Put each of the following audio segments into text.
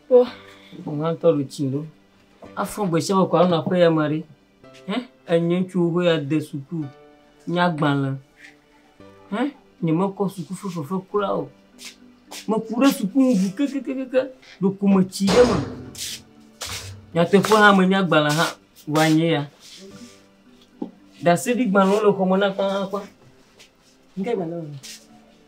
Kpɔ, ŋutɔ ɖu tsi ɖo. Afɔ gbesiame kɔ anɔ aƒe ya me ɖi. Hẽ, enye ŋutsuwo ƒe ade suku nyagbalẽ. Hẽ, nye me kɔ suku ƒe fefe kura o. Me ku ɖe suku nu ŋu kekekeke, ɖeko me tsi ɖe me. Nyateƒe hã me nyagbalẽ hã wa nye ya. Ɖaseɖigbalẽwo le xɔme na kpakpakpã. Ŋke gbalẽa me.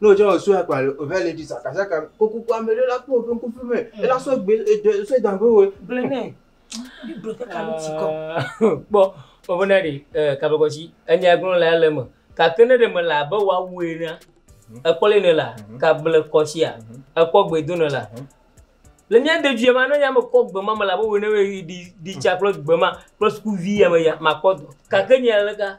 Ne wòtsɔ wɔ soya kpa le ove le dzi sakasaka kokoku ame ɖe la kpɔ woƒe ŋkufi me ela sɔ gbe eɖe sɔ da ƒe wɔ gblẽ nɛ. Biblia ƒe kalo ti kɔ. Kpɔ woƒe na ɖe eh, kabekɔtsi enya gblɔ la le eme gake ne ɖe mele abe woawu enea mhm. ekpɔ le ne la mhm. kable kɔtsia mhm. ekpɔ gbe do ne la le mía de dzuya ma ne nya me kɔ gbe ma me la be wɔ ne ɖi ɖi tsa kple gbe ma kple sukuvi ya me ya ma kpɔ do gake nya le ka.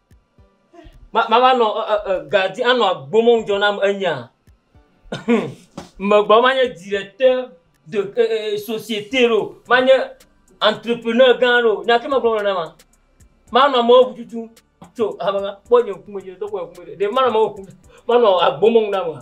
Ma- Mava nɔ ɛ- ɛ- ɛ, ga di anɔ agbomɔ ŋdzɔ nam enya. Megbɔ manye directeur de ɛ- ɛ- ɛ, société ɖo, manye entrepreneur gã ɖo, nya ke megblɔ wole na ma. Manɔ amewo ŋu tutum tso hame ma. Kpɔ nye ŋkume, nye ŋutɔ kpɔ nye ŋkume ɖe. Ɖe manɔ amewo ŋu tutum, manɔ agbomɔ ŋu na mea?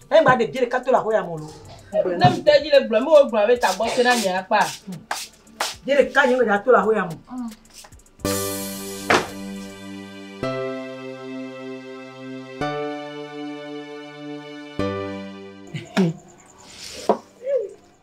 Eyi ba ɖe bie ɖeka to la ho ya mo lo. Ne mi te ji le gblɔ mi wo gblɔ be ta gbɔ se na nye akpa. Bie ɖeka nye me da to la ho ya mo.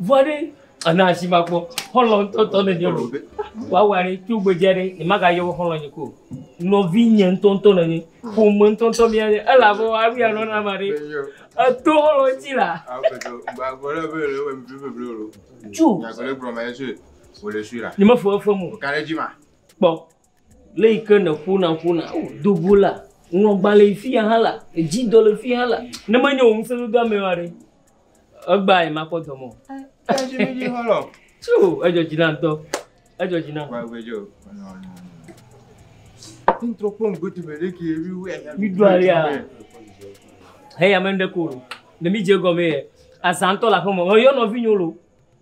Vɔ ɖe ana asi ma kpɔ xɔlɔ ŋutɔtɔ ne nye lo woawɔ ɖe tso gbedzia ɖe ne maga yɔ xɔlɔ nye ko nɔvi nye ŋutɔtɔ ne nye ƒome ŋutɔtɔ mi anye ela bɔ awi anɔ na ma ɖe eto xɔlɔ ŋuti la. Ju. Nyagblẽ gblɔ ma ye sue wòle sue la. Nye me fɔ efe mo. Kare dzi ma. Kpɔ. Le yi ke nèƒona ƒona o do go la, ŋlɔgbalẽ yi fiya hã la, edzi dɔ le fiya hã la, ne menye wò ŋusẽ dodo amee ma ɖe, egbea nye makpɔ dɔ me o. Tso edzɔ dzi na ŋutɔ, edzɔ dzi na. Mi do alia, heya me ɖe ko, ne mi dze gɔme ye, azãtɔ le aƒeme, eyɔ nɔvi nyo lo.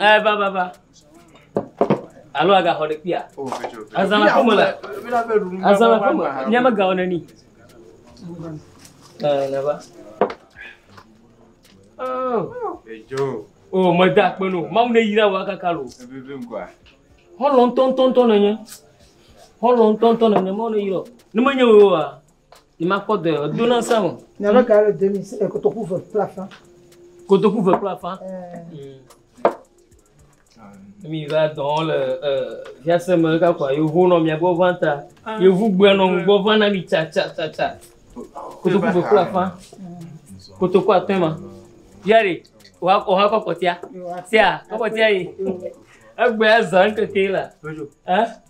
Eh, va, va, va. Alo agaxɔ ɖe kpia. Azã le aƒeme le. Azã le aƒeme. Míame gawo neni. Eh, ne va. Oh. Edzo. Oh, meda akpe no. Mawu ne yira wa kaka lo. Ebebe ŋkɔa. Hɔlɔ ŋutɔŋutɔŋutɔ nenye. Hɔlɔ ŋutɔŋutɔ nenye. Mawu ne yira. Ne menye woe wa. Ni ma kpɔ dɔɛ, do na sa mo. Ni ava ka le demi se kotoku ve kple afã. Kotoku ve kple afã. Mi va dɔn le via se me ka kwa yo vo no mi agbo va ta. Yo vu gbe no gbo va na mi cha cha cha cha. Kotoku ve kple afã. Kotoku atwe ma. Yari, wa ko ha ko kotia. Sia, ko kotia yi. Egbe azan ke ke la. Eh?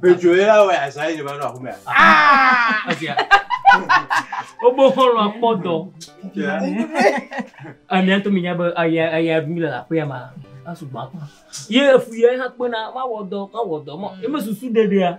Pedroe la wɔ asa yi va nɔ aƒu mea. Wobo xɔlɔ akpɔ dɔ. Amia to mi nya be aya aya mi le aƒea ma. Asu gba. Ye efu ye ha kpena ma wɔ dɔ ma wɔ dɔ ma. Eme susu ɖeɖea.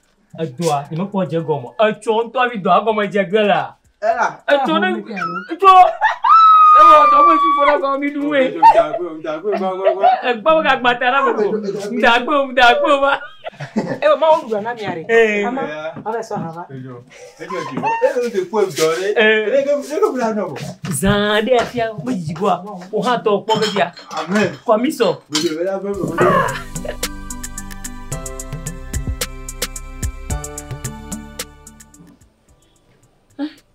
Edɔa, nye me kpɔ dze gɔme. Etsɔ ŋutɔ hafi dɔa gɔme dze ge lea. Ela. Etsɔ ne. Etsɔ. Ewɔ dɔ me tsi fɔ ɖe gɔme mi ɖu wee. Egba wo gagba ta na mo. Ŋdagbe o, ŋdagbe o va. Ewɔ ma wo ɖu na mia ɖe. Ee. Ama, ɔbɛ sɔ ha va. Zã aɖe afia medidi goa, wò hã tɔ kpɔ be bia. Amen. Kɔmisɔ.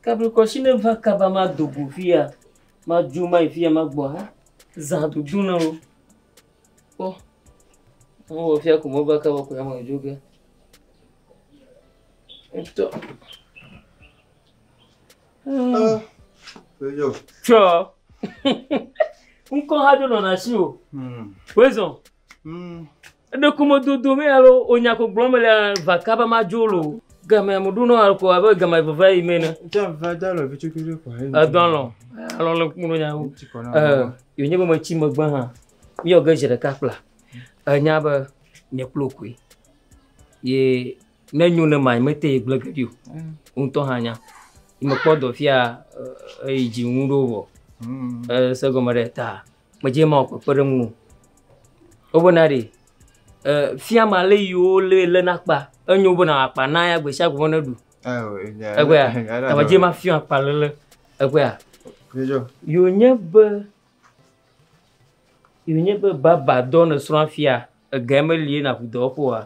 Kablikɔsi ne va kaba ma do go fia, ma ju ma yi fia ma gbɔ ha. Zã dudu na wo. Kpɔ. Wọ́n wɔ fia kò mọ́ bá kábọ̀ kò yá mọ̀ ìjó gẹ́. Tsɔ. Ŋkɔ ha do nɔna si o. Hmm. Wezɔ. Hmm. Eɖeku me dodo me alo onya ko gblɔm le vaka be ma dzo lo. Game mo do nɔna ko abe game veve yi me ne. Tsa va da lo vitsi kiri ko. Edɔ lɔ. Alɔ le kuno nya wo. Eh, yonye be me tsi me gbe ha. Mi yɔ ge je ɖeka kpla. Enya be nye kplo koe ye ne nyo ne ma mete ye gblẽ geɖi o mm. ŋutɔ hã nya mekpɔ dɔ fia eyi dzi ŋu ɖo vɔ mm. ese gɔme ɖe ta medze ma wɔ kpekpe ɖe ŋu o wobena ɖe fia ma lé yiwo lé lé na kpa enyo bena akpa na ya gbe sia gbe ne ɖu egbea tame dze ma fia akpa lele egbea yonye be Ye wònye be baba dɔ nèsrɔ̃a fia, egee meli ye nàku dɔwɔƒe oa?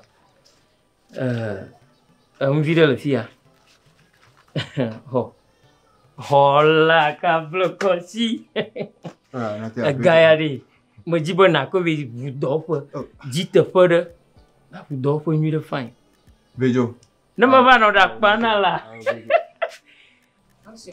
Ɛɛ, enu vi ɖe le fi ya. Xɔ. Xɔla kablekɔsi. Ah, na te Ega ya ɖe. Medi be nàkɔ be ʋu dɔwɔƒe. Oh. Dzi teƒe ɖe. Nàku dɔwɔƒe nyui ɖe fine. Vedzo. Ne meva nɔ ɖe akpa na la. Ah, vedzo.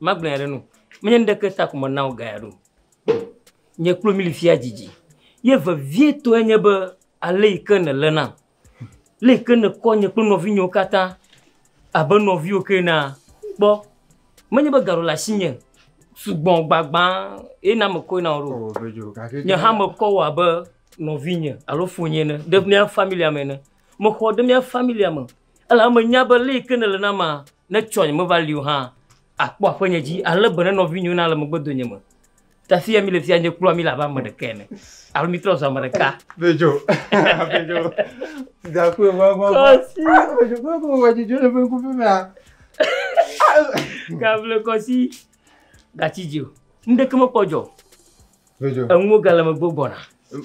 Magblɔe ɖe nu. Menye nuɖeke ta ko mena wò gaya ɖo. Nye kple mi li fia dzidzi. Ye vevietɔe nye be ale yi ke nèlé nam, le yi ke nèkɔ nye kple nɔvinyewo katã abe nɔviwò ke enea, kpɔ. Menye be ga ɖo le asinye sugbɔ gbagbã ye na mekɔe na wò ɖo. Oo, vidzĩ, gake Nye hã mekɔ wò abe nɔvinye alo fonye ene, ɖe mía familia me ene. Mexɔ wò ɖe mía familia me Elabe menya be lé yi ke nèle nam maa, ne tsɔnye meva li o hã, àkpɔ aƒenye dzi, ale be ne nɔvinyɔnu ale megbe donye me. Ta fia mile fia nye kploa mí le abe ame ɖeka ene, alo mítrɔ zu ame ɖeka. Bejo. Bejo. Dakwe wa wa wa. Bejo ko ko wa jijo le benku pe mea. Gable kɔsi. Gachi jio. Ndeke me kpɔjɔ. enuwo gale me gbɔ gbɔna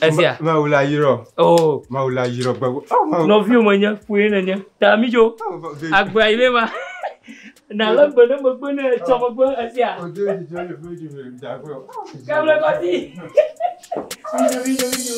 ezia mawu la yirɔ o mawu la yirɔ gbɛgo nɔviwo me nye ƒoe ne nye ta mi dzo agbea yi ne ma na le gbe ne megbe ne etsɔ megbe ezia kable kɔsi mi dzo mi dzo mi dzo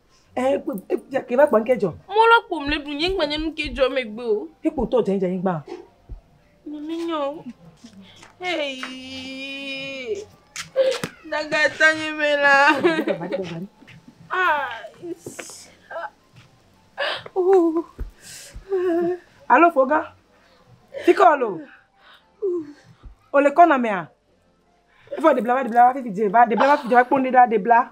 Eh, ke va kpɔn ke dzɔ. Mo la kpɔm le ɖu nyigba nye nu ke dzɔ megbe o. Ke kpɔ tɔ dze dze nyigba. Nye mi nyɔ. Hey. Daga ta nye me la. Ah. Oh. Alo foga. Tiko alo. Ole kona mea. Ifo de bla va de bla va fi fi je va de bla va fi je va kpɔn de da de bla.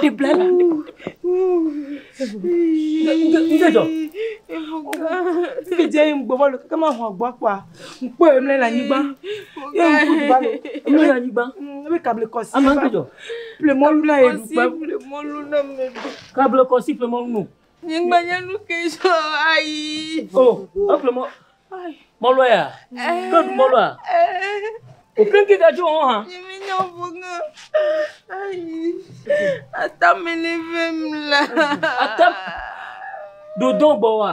Di bla la. Nse jɔ. Fi dze ŋ gbɔ bɔlu keke ma hɔn gbɔ kpɔa. Ŋ kpɔ ye mle le anyigba. Ye ŋ ku duba le. Mle le anyigba. Ebe kable kɔsi. Ama ŋke jɔ. Ple mɔlu na ye dukpe. Kable kɔsi ple mɔlu no. Nyigbenye nu ke sɔ ayi. O, efle mɔ. Mɔlɔ ya. Ke du mɔlɔ ya. O ke ke gadzo ho ha. Nyimi nyo bunga. Ayi. Ata mi le vem la. Ata. Do don bo wa.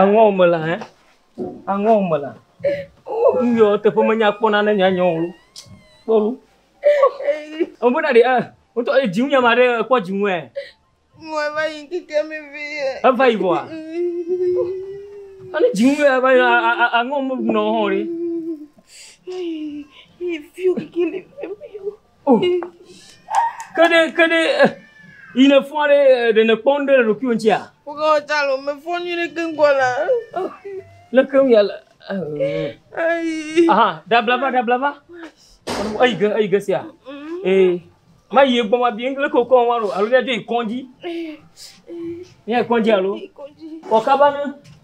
Aŋɔ wo me la hã. Aŋɔ wo me la. Nuyɔ teƒe menya kpɔ na ne nyanyɔ wo. Kpɔlu. Ɔmbe na ɖe eh. Wotɔ e dziŋu nyama ɖe ekpɔ dziŋu ɛ. Mo eva yi kike mi vi. Eva yi bɔa. Ani dziŋu ɛ va yi aŋɔ mo nɔ hɔn ri. Yi fi kike li. Oh. Ke ɖe, ke ɖe, eh, yi ne fɔa ɖe, eh, ɖe ne kpɔ nu ɖe le ɖokuiwò ŋutia? Woga wòtsa le me fɔ nyui ɖe keŋ kɔ la. Le keŋ ya le. Eh. Ayi. Aha, dabla va, dabla va. Eyi ge, eyi ge sia. Eh. Ma yi egbɔ ma bi le ke wokɔ wa ɖo alo ɖe do yi kɔndzi. Eh. Nye kɔndzi alo. Kɔndzi. Kɔkaba ne.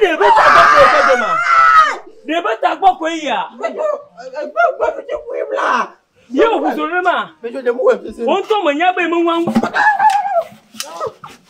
Ɖe ƒe tagbɔ koe ƒe dɔ ma? Ɖe ƒe tagbɔ koe yia? Ye wòʋu zɔ nenema? Wò ŋutɔ mènya be meŋua ŋu.